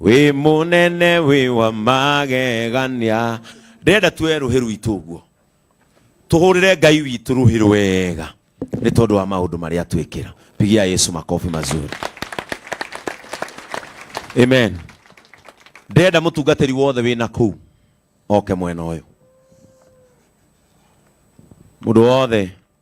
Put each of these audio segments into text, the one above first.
wĩ mũnene wĩ wa magegania ndĩrenda tuoe rũhĩ rwitũ ũguo tũhũrĩre ngai witũ rũhĩ rwega nĩ tondũ wa maũndũ marĩa atwĩkĩra pigia yesu makobi mazuri amen ndĩrenda mũtungatĩri wothe wĩna kũu oke mwena ũyũ mũndũ wothe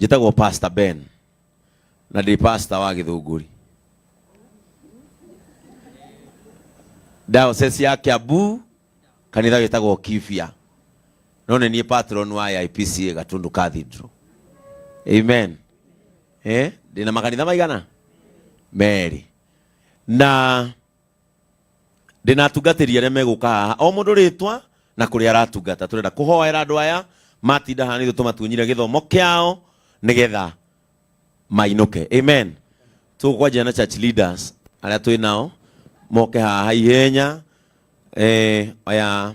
njĩtagwo pastor ben na ndĩ pastor wa gĩthũngũri diocese ya kiambu kanitha wĩtagwo kibia no nĩ niĩ patron wa ya ipca gatundu cathedral amen eh? ndĩna makanitha maigana merĩ na ndĩna atungatĩri arĩa megũka haha o mũndũ rĩtwa na kũrĩa aratungata tũrenda kũhoera andũ aya matinda haha nithu tũmatunyire gĩthomo kĩao nĩgetha mainũke amen tũkwanjia na church leaders arĩa twĩ nao moke haha ihenya eh, aya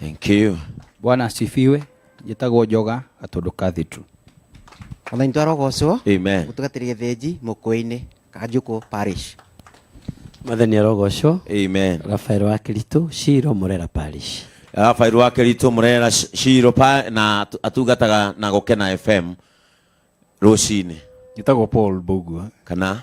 Thank you. Bwana asifiwe. Njĩtagwo Njoga Gatũndũ Cathedral. Mwathani twarogocwo Amen. gũtugatĩria gĩthĩnji mũkũĩ-inĩ kanjũkũ parish Mwathani arogocwo. Amen. Rafael wa Kĩritũ, Shiro, Murera Parish. Rafael wa Kĩritũ Murera Sh- Shiro pa na atu- atungataga na Gũkena FM rũcinĩ. Njĩtagwo Paul Mbugua. Kana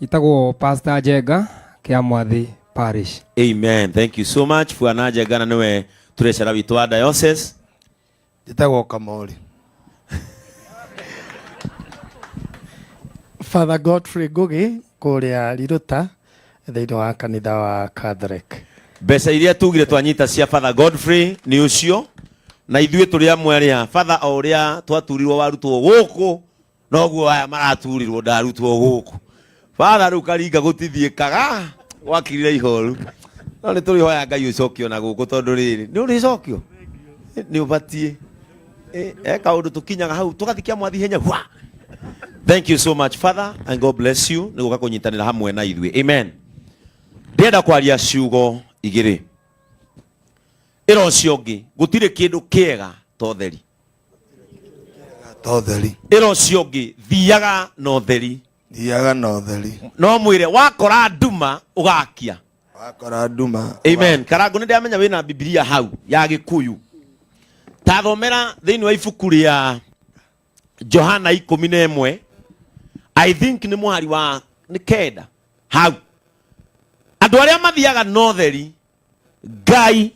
itagwo pastor njenga kia mwathi parish amen thank you so much bwana njengana niwe turecera witũ wa diocese njĩtagwo kamori father godfrey ngũgĩ kũrĩa riruta thĩinĩ wa kanitha wa catholic mbeca iria tugire twanyita cia father godfrey nĩ ũcio na ithuĩ tũrĩ amwe arĩa father o ũrĩa twaturirwo warutwo gũkũ noguo aya maraturirwo ndarutwo gũkũ bara rĩu karinga gũtithiĩkaga gwakirire ihoru no nĩ tũrĩ hoya ngai ũcokio na gũkũ tondũ rĩrĩ nĩ ũrĩ cokio nĩ ũbatiĩ Eh, eh, kaũndũ tũkinyaga hau tũgathikia mwathi henya hwa thank you so much father and god bless you nĩ gũka kũnyitanĩra hamwe na ithuĩ amen ndĩenda kwaria ciugo igĩrĩ ĩra ũcio ũngĩ gũtirĩ kĩndũ kĩega ta ũtheri ta ũtheri ĩra ũcio ũngĩ thiaga na ũtheri thiaga na ũtheri no mwĩre wakora nduma ũgakia wakora nduma amen karangu nä ndäramenya wä na bibilia hau ya gä kuyu tathomera thä inä wa ibuku rä a johana ikå na ĩmwe i think nä mũhari wa nä kenda hau andå arä a mathiaga notheri ngai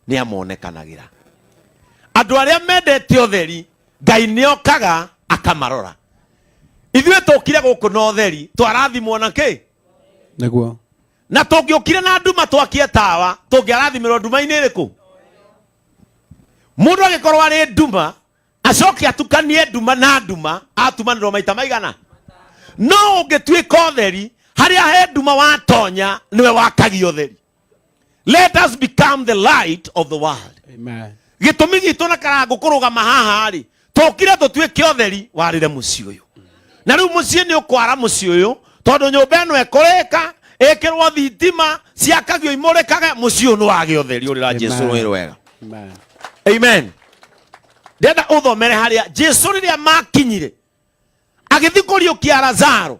nĩ amonekanagĩra andũ arĩa mendete ũtheri ngai nĩ okaga akamarora ithuĩ tũkire gũkũ na ũtheri twarathimwo na kĩ nĩguo na tũngĩũkire na nduma twakie tawa tũngĩarathimirwo nduma-inĩ ĩrĩkũ mũndũ agĩkorwo arĩ nduma acoke atukanie nduma na nduma atumanĩrwo maita maigana no ũngĩtuĩka ũtheri harĩa he nduma watonya nĩwe wakagia ũtheri let us become the light of the world Amen. gĩtũmi gitũ na karango kũrũgama haha rĩ tũkire tũtuĩke ũtheri warĩre mũciĩ ũyũ na rĩu mũciĩ nĩ ũkwara mũciĩ ũyũ tondũ nyũmba ĩno ĩkũrĩka ĩkĩrwo thitima ciakagio imũrĩkage mũciĩ ũyũ nĩ wagĩ ũtheri ũrĩra jesu Amen. rũĩ rwega Amen. amen ndenda ũthomere harĩa jesu rĩrĩa makinyire agĩthiĩ kũriũkia lazaro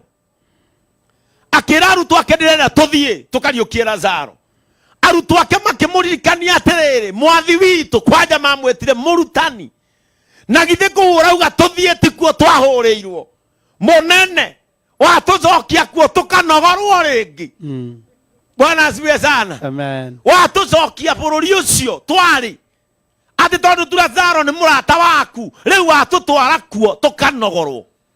akĩra arutwo ake ndĩrenda tũthiĩ tũkariũkie lazaro arutwo ake makĩmũririkania atĩrĩrĩ mwathi witũ kwanja mamwĩtire mũrutani na githĩ kũhũra uga tũthiĩ tikuo twahũrĩirwo mũnene watũcokia kuo tũkanogorwo rĩngĩ Mm. bwana asiwe sana Amen. watũcokia bũrũri ũcio twarĩ atĩ tondũ turazaro nĩ mũrata waku rĩu watũtwara kuo tũkanogorwo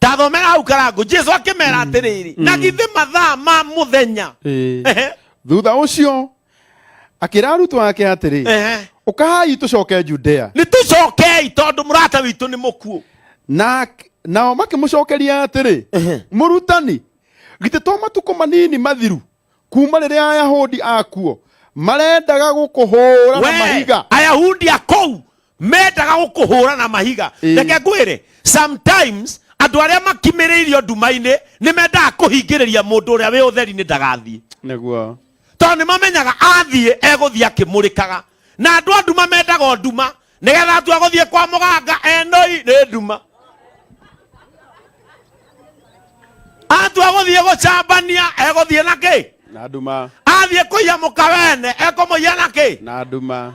tathomera hau karangu jesu akĩmera atĩrĩrĩ na githĩ mathaa ma mũthenya Ĩĩ. Ehe, thutha ũcio akĩra arutwo ake atĩrĩ ehe. ũkahai tũcoke judea nĩ tũcokei tondũ mũrata witũ nĩ mũkuũ na nao makĩmũcokeria atĩrĩ mũrutani githĩ to matukũ manini mathiru kuma rĩrĩa ayahudi akuo marendaga gũkũhũra na We, mahiga ayahudi a kũu mendaga gũkũhũra na mahiga Ĩĩ. reke ngwĩre sometimes andũ arĩa makimĩrĩirio nduma-inĩ nĩ mendaga kũhingĩrĩria mũndũ ũrĩa wĩ ũtheri-inĩ ndagathiĩ nĩguo tondũ nĩ mamenyaga athiĩ egũthiĩ akĩmũrĩkaga na andũ a nduma mendaga o nduma nĩgetha atua gũthiĩ kwa mũganga enoi nĩ nduma atua gũthiĩ gũcambania egũthiĩ na kĩ na nduma athiĩ kũiya mũkawene ekũmũiya na kĩ na nduma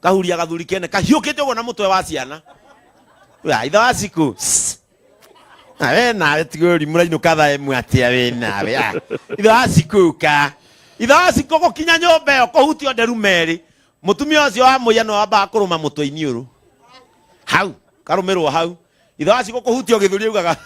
kahuria gathuri kene kahiukite uguo na mutwe wa ciana ya itha wa ciku na we nawe tiguri murainuka thaa imwe atia we nawe ya itha wa ciku ka itha wa ciku gukinya nyumba iyo kuhutio nderu meri mutumia ucio wa muya no wambaga kuruma mutwe iniuru hau karumirwo hau ithe wacigo kũhutia gĩthũri augaga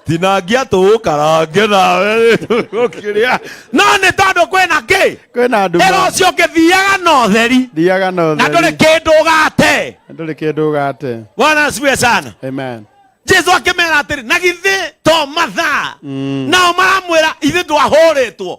tinangia tũũkarange nawe ũkĩrĩa no nĩ tondũ kwĩna kĩ kwĩna nduma ĩra ũcio ũngĩthiaga na ũtheri thiaga na na ndũrĩ ũtheri kĩndũ ũgate na ndũrĩ kĩndũ ũgate bwana asifiwe sana amen jesu akĩmera atĩrĩ na githĩ to mathaa nao maramwĩra ithe twahũrĩtwo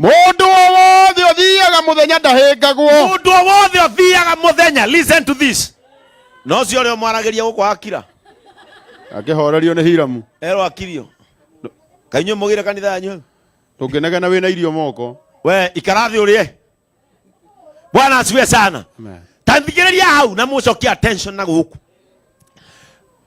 Mũndũ o wothe ũthiaga mũthenya ndahĩngagwo. Mũndũ o wothe ũthiaga mũthenya. Listen to this. No ũcio ũrĩa ũmwaragĩria gũkũ akira. Akĩhorerio nĩ Hiramu. Erwo akirio. Kainyuĩ mũgĩre kanitha yanyu. Ndũngĩnegena wĩna irio moko. We ikara thĩ ũrĩe. bwana asiwe sana Amen. tanthigĩrĩria hau na mũcokie attention na gũkũ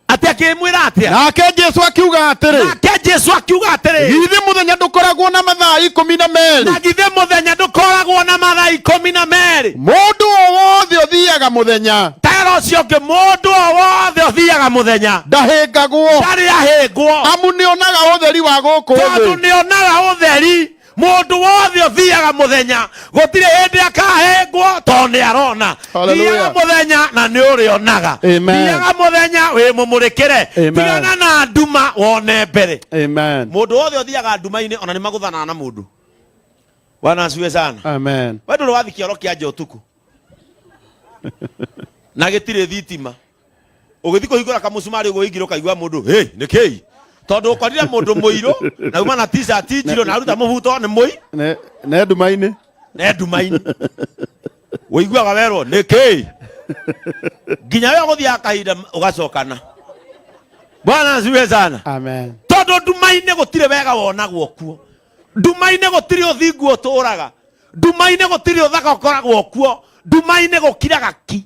atĩ akĩmwĩra atĩa nake jesu akiuga atĩrĩ nake jesu akiuga atĩrĩ githĩ mũthenya ndũkoragwo na mathaa ikũmi na merĩ na githĩ mũthenya ndũkoragwo na mathaa ikũmi na merĩ mũndũ o wothe ũthiaga mũthenya tera ũcio ũngĩ mũndũ o wothe ũthiaga mũthenya ndahĩngagwo ndarĩ ahĩngwo amu nĩonaga ũtheri wa gũkũ tondũ thĩ nĩonaga ũtheri mũndũ wothe ũthiaga mũthenya gũtirĩ hĩndĩ akahengwo tondũ nĩ arona Hallelujah. thiaga mũthenya na nĩ ũrĩonaga Amen. thiaga mũthenya wĩ mũmũrĩkĩre Amen. tigana na nduma wone mbere Amen. mũndũ wothe ũthiaga nduma-inĩ ona nĩ magũthanaga na mũndũ bwana asiwe sana Amen. we ndå rä wathi kä oro kä anja å tukå na gä tirä thitima ũgĩthiĩ kũhingũra kamũcumarĩ ũguo ingiro kaigua mũndũ hĩ nĩ kĩi tondũ ũkorire mũndũ mũirũ na uma na t-shirt njirũ na aruta mũbuto nĩ mũi Ne- ne nduma-inĩ ne nduma-inĩ ũiguaga werwo nĩ kĩi nginya we gũthiaga kahinda ũgacokana bwana asiwe sana amen tondå nduma-inä gå tirä wega wonagwo kuo nduma-inä gå tirä å thingu å tå raga nduma-inä gå tirä å thaka å koragwo kuo nduma-inä gå kiraga ki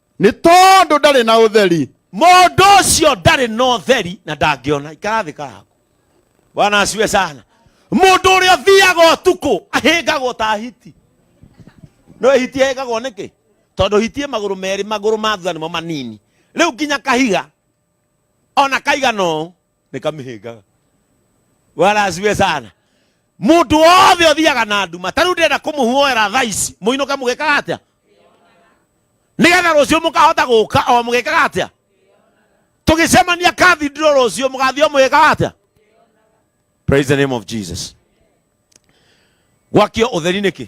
nĩ tondũ ndarĩ na ũtheri mũndũ ũcio ndarĩ na ũtheri na ndangĩona ikarathĩka haku bwana asiwe sana mũndũ ũrĩa ũthiaga ũtukũ ahĩngagwo ta hiti no hiti ahĩngagwo nĩkĩ tondũ hiti ĩ magũrũ merĩ magũrũ ma thutha nĩmo manini rĩu nginya kahiga ona kaigana ũũ nikamĩhĩngaga bwana asiwe sana mũndũ wothe ũthiaga na nduma ta rĩu ndĩrenda kũmũhuoera thaa ici mũinũke mũgĩkaga atĩa nĩgetha rũciũ mũkahota gũka o mũgĩkaga atĩa tũgĩcemania kathindiro rũciũ mũgathiĩ o mũgĩkaga atĩa praise the name of jesus gwakio ũtheri nĩkĩ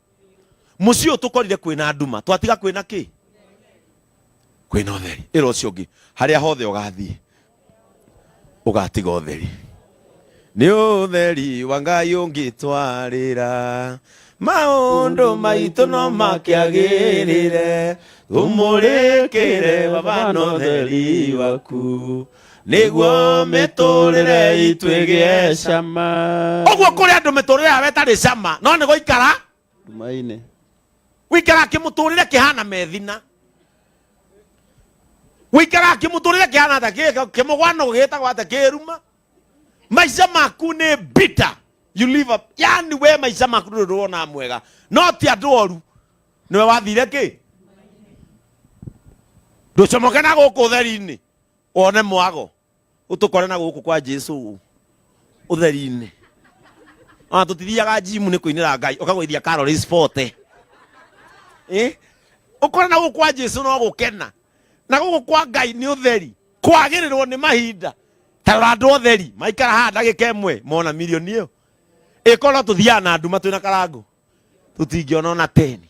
muciĩ ũyũ tũkorire kwĩna nduma twatiga kwĩna kĩ kwĩna ũtheri ĩra ũcio ũngĩ harĩa hothe ũgathiĩ ũgatiga ũtheri nĩ ũtheri wa ngai ũngĩtwarĩra maũndũ maitũ no makĩagĩrĩre tũmũrĩkĩre baba na ũtheri waku nĩguo mĩtũrĩre itũ ĩgĩe cama ũguo kũrĩ andũ mĩtũrĩre yao ĩtarĩ cama no nĩ gũikara nduma-inĩ wĩikara kĩmũtũrĩre kĩhana methina wĩikara kĩmũtũrĩre kĩhana ta kĩ- kĩmũgwano gĩtagwo ata kĩruma maica maku nĩ bitter you live up yani we maica maku ndũrĩ ũndũ wonaga mwega no ti andũ oru nĩwe wathire kĩ ndũcomoke na gũkũ theri-inĩ wone mwago utukore na guku kwa jesu utheri-inĩ ona tutithiaga jimu nĩ kũinĩra ngai ũkagũithia karori spote Eh? ũkore na gũkũ kwa jesu no gũkena na gũkũ kwa ngai nĩ ũtheri kwagĩrĩrwo nĩ mahinda tarora andũ otheri maikara haha ndagĩka ĩmwe mona mirioni ĩyo ĩkorwo no tũthiaga na nduma twĩna karango tũtingĩona ona teni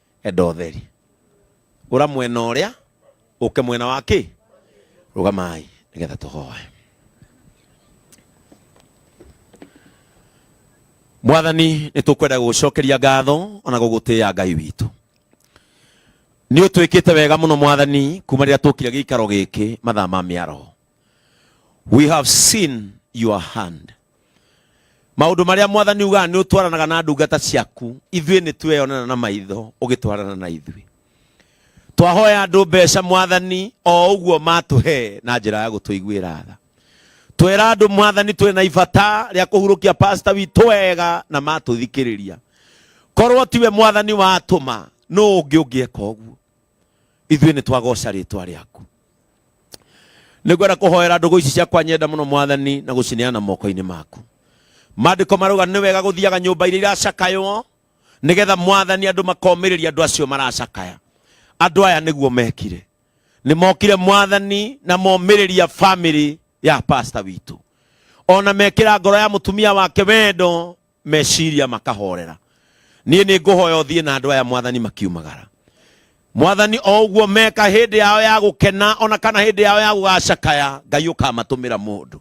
Enda ũtheri. Ũra mwena ũrĩa, ũke mwena wa kĩ? Rũgamai nĩgetha tũhoe. Mwathani, nĩ tũkwenda gũgũcokeria ngatho ona gũgũtĩĩa Ngai witũ. Nĩ ũtwĩkĩte wega mũno Mwathani kuma rĩrĩa twokire gĩikaro gĩkĩ mathaa ma mĩaraho. we have seen your hand maundu maria mwathani ugaga ni utwaranaga na ndungata ciaku ithuĩ nĩ tweyonana na maitho ũgĩtwarana na ithuĩ twahoya andũ mbeca mwathani o ũguo matũhe na njĩra ya gũtũiguĩra tha twera andũ mwathani twĩ na ibata rĩa kũhurũkia pasta witũ wega na matũthikĩrĩria korwo tiwe mwathani watũma nũ ũngĩ ũngĩeka ũguo ithuĩ nĩ twagoca rĩtwa rĩaku nĩ ngwenda kũhoera ndũgũ ici ciakwa nyenda mũno mwathani na gũcineana moko-inĩ maku maandĩko marauga nĩ wega gũthiaga nyũmba iria iracakaywo nĩgetha mwathani andũ makomĩrĩria andũ acio maracakaya andũ aya nĩguo mekire nĩ mokire mwathani na momĩrĩria family ya pasta witũ ona mekĩra ngoro ya mũtumia wake wendo meciria makahorera niĩ nĩ ngũhoya ũthiĩ na andũ aya mwathani makiumagara mwathani o ũguo meka hĩndĩ yao ya gũkena ona kana hĩndĩ yao ya gũgacakaya ngai ũkamatũmĩra mũndũ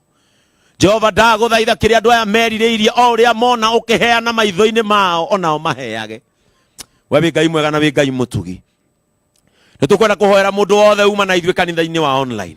jehova ndagũthaitha kĩrĩa andũ aya merirĩirie o ũrĩa mona ũkĩheana maitho-inĩ mao onao maheage we wĩ ngai mwega na wĩ ngai mũtugi nĩ tũkwenda kũhoera mũndũ wothe uma na ithuĩ kanitha-inĩ wa online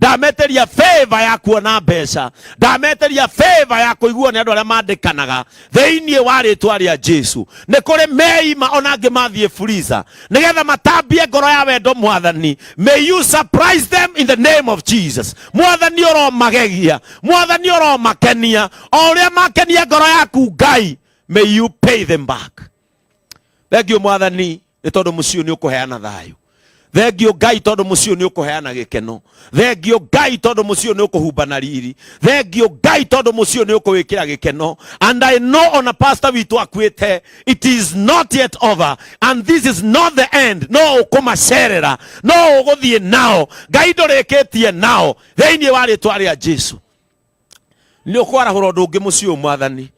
ndameteria favor ya kuona mbeca ndameteria favor ya kuiguo nĩ andũ arĩa mandĩkanaga thĩinĩ wa rĩtwa rĩa jesu nĩ kũrĩ meima ona angĩ mathiĩ furiza nĩgetha matambie ngoro ya wendo mwathani may you surprise them in the name of jesus mwathani ũromagegia mwathani ũromakenia o ũrĩa makenia ngoro yaku ngai may you pay them back thengiũ mwathani nĩ tondũ mũciĩ ũyũ nĩ ũkũheana thayũ thengio ngai tondũ mũciĩ ũyũ nĩ ũkũheana gĩkeno thengio ngai tondũ mũciĩ ũyũ nĩ ũkũhumba na riri thengio ngai tondũ mũciĩ ũyũ nĩ ũkũwĩkĩra gĩkeno and i know ona pastor witũ akuĩte it is not yet over and this is not the end no ũkũmacerera no ũgũthiĩ nao ngai ndũrĩkĩtie nao thĩinĩ wa rĩtwa rĩa jesu nĩ ũkwarahũra ũndũ ũngĩ mũciĩ ũyũ mwathani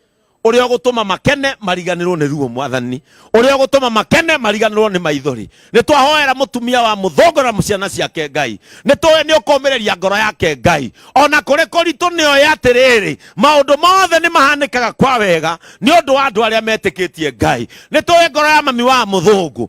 ũrĩa ũgũtũma makene mariganĩrwo nĩ ruo mwathani ũrĩa ũgũtũma makene mariganĩrwo nĩ maithori nĩ twahoera mũtumia wa mũthongora ciana ciake ngai nĩ tũĩ nĩ ũkũmĩrĩria ngoro yake ngai ona kũrĩ kũritũ nĩ oĩ atĩrĩrĩ maũndũ mothe nĩ mahanĩkaga kwa wega nĩ ũndũ wa andũ arĩa metĩkĩtie ngai nĩ tũĩ ngoro ya mami wa mũthũngũ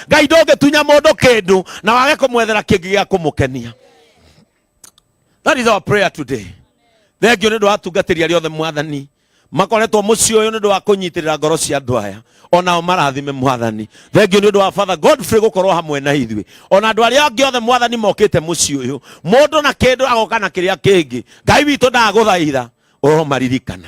ngai ndũngĩtunya mũndũ kĩndũ na wage kũmwethera kĩngĩ gĩa kũmũkenia that is our prayer today thengio nĩ ũndũ wa atungatĩri arĩa othe mwathani makoretwo mũciĩ ũyũ nĩ ũndũ wa kũnyitĩrĩra ngoro cia andũ aya onao marathime mwathani thengio nĩ ũndũ wa father godfrey gũkorwo hamwe na ithuĩ ona andũ arĩa angĩ othe mwathani mokĩte mũciĩ ũyũ mũndũ na kĩndũ agoka na kĩrĩa kĩngĩ ngai witũ ndagũthaitha ũromaririkana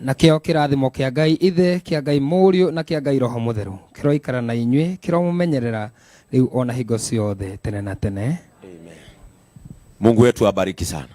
nakĩo kĩrathimo kĩa ngai ithe kĩa ngai mũriũ na kĩa ngai roho mũtheru kĩroikara na inyuĩ kĩromũmenyerera rĩu ona hingo ciothe tene na tene Mungu wetu abariki sana.